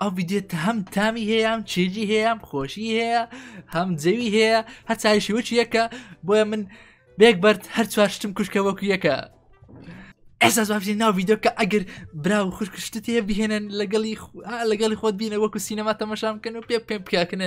ئەو ویدێت هەم تامی هەیە ئەم چێژی هەیە ئەم خۆشی هەیە هەم جەوی هەیە هەچایشی وچ یەکە بۆیە من بێک بەرد هەر چوار شتم کوشکە وەکو یەکە ئێستا زوافی ناو یددیوکە ئەگەر برا و خوشکشتت هەیە بهێنن لەگەڵی لەگەڵی خۆت بینە وەکو سینەما تەمەشام بکەن و پێ پێم بکەکنە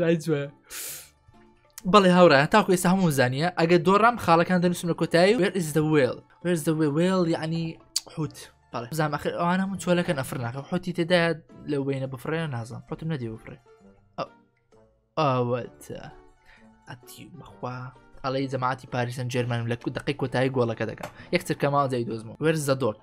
لای جوێ بەڵێ هاورا تاکو ئێستا هەموو زانیە ئەگە دۆڕام خاڵەکان دەنووسم لە کۆتایی وێر ئز دەوێڵ وێرز دەوێ وێڵ یعنی حوت بەڵێ زام ئەخر ئەوان هەموو چۆلەکە نەفر ناکە حوتی تێدا لەو بینە بفڕێ نازان حوتم نەدی بفڕێ ئەوەتە ئەتی بەخوا ئەڵی جەماعتی پاریسن جێرمانم لە دقی کۆتایی گۆڵەکە دەکەم یەکتر کەماڵ جای دۆزمەوە وێرز زەدۆک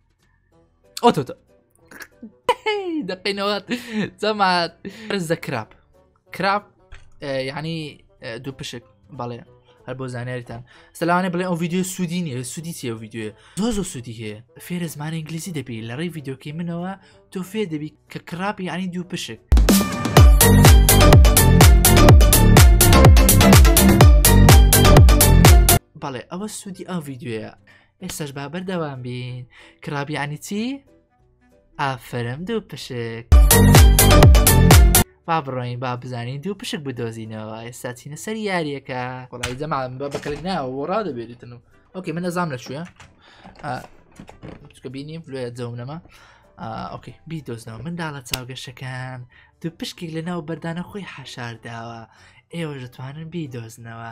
ئۆتۆ دەقینەوەات زەمات زە کراب کراب یعنی دوو پشک بەڵێ هەر بۆ زانیاریتان سەلاوانێ بڵێ ئەو یددیو سوودی نیە سوودی چیە یددیوێ زۆ زۆ سوودی هەیە فێرە زمان ئینگلیزی دەبی لە ڕێی یددیوکەی منەوە تۆ فێ دەبی کە کراپی ینی دوو پشک. بەڵێ ئەوە سوودی ئەو یددیوەیە ئێستاش با بەردەوام بین کرابیانی چی؟ ئافرم دوو پشک با بڕۆین با بزانین دوو پشک بدۆزینەوە ئێستا چینە سەر یاریەکە وڵی جەمان بە بەکەلک ناوە بۆ ڕا دەبێتن و ئۆکەی من ئەزام لە شوێ چکە بینیم لێ جەوم نەما ئۆکەی بیدۆزنەوە منداڵە چاوگەشەکان دوو پشکێک لە ناو بەردانە خۆی حەشارداوە ئێوە دەتوانن بیدۆزنەوە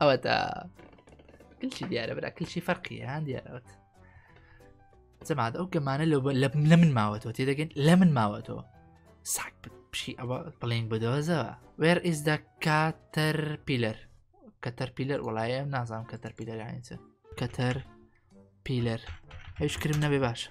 ئەوە دا کلچی دیارە برا کلچی فەرقی هەند دیارەوەت جەماعات ئەو گەمانە لە لە من ماوەتەوە تێ دەگەن لە من ماوەتەوە ساک پشی ئەوە بڵێن بدۆزەوە وێر ئیز دە کاتەر پیلەر کەتەر پیلەر وڵایە نازانم کەتەر پیلەرانیچە کەتەر پیلەر هیچ کرم نەبێ باشە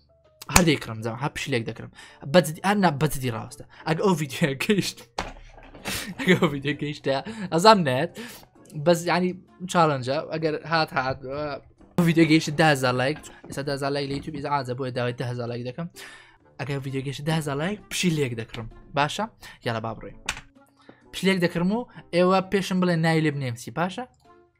هەردەی کڕم جا هە پشلێک دەکرم بەجدی ئەنا بەجدی ڕاستە ئەگ ئەو ڤیددیو گەیشت ئەو ڤیددیو گەیشتە ئەزام نێت بەس ینی چاڵنجە ئەگەر هات هات ڤیددیو گەیشت دازار لایک ئێستا دازار لای لە یوتوب ئیز ئازە بۆیە داوای دە هزار لایک دەکەم ئەگەر ڤیددیو گەیشت دازار لایک پشی لێک دەکڕم باشە یاە با بڕێ پشلێک دەکرم و ئێوە پێشم بڵێ نای لێ بنێمسی باشە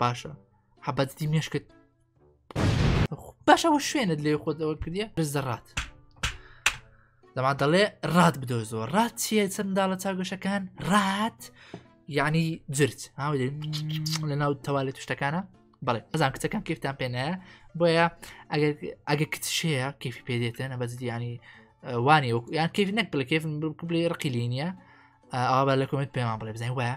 باشە حەبەتی مێشکت باشەوە شوێنت لێ خۆتەوە کردە بز دەڕات دەما دەڵێ ڕات بدۆ زۆر ڕات چیە چەندداڵە چاگەشەکان ڕات یعنی جرت هاوێ لە ناو تەوالێت توشتەکانە بەڵێ ئەزان کچەکان کیفتان پێنایە بۆیە ئەگە کچشەیە کیفی پێدێتە نە بەزی ینی وانی یان کیف نەک بڵێ کیف بڵێ ڕقیلی نییە ئاوا لە کۆمنت پێمان بڵێ بزانین وایە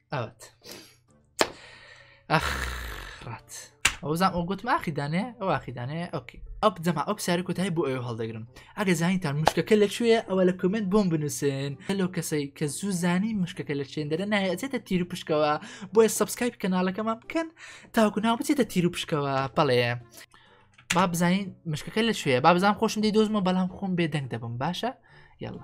ئەوت ئەخ ڕات ئەوزان ئەو گوتم ئاخیدانێ ئەو ئاخیدانێ ئۆکی ئەپ جەما ئەو ساری کوتای بۆ ئەو هەڵدەگرم ئەگە زانیتان مشکەکە لە کوێ ئەوە لە کمنت بۆم بنووسن هەلو کەسەی کە زوو زانی مشکەکە لە چێندەرە نایەتێتە تیر و پشکەوە بۆیە سبسکایپ کەناڵەکەمان بکەن تاکو ناو بچێتە تیر و پشکەوە بەڵێ با بزانین مشکەکە لە کوێ با بزان خۆشم دی دۆزمە بەڵام خۆم بێدەنگ دەبم باشە یاڵە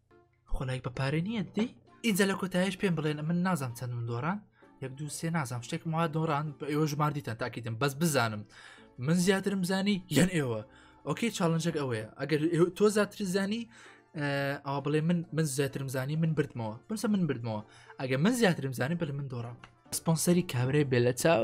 خۆلایک بە پارێ نییە دی ئینجا لە کۆتایش پێم بڵێن من نازانم چەند من دۆڕان یەک دو سێ نازانم شتێک ما دۆڕان بە ئێوە ژماردیتان تاکیدم بەس بزانم من زیاترم زانی یەن ئێوە ئۆکەی چاڵنجەک ئەوەیە ئەگەر تۆ زیاتر زانی ئەوە بڵێ من من زیاترم زانی من بردمەوە بمسە من بردمەوە ئەگە من زیاترم زانی بەل من دۆڕام سپۆنسەری کابرای بێ لە چاو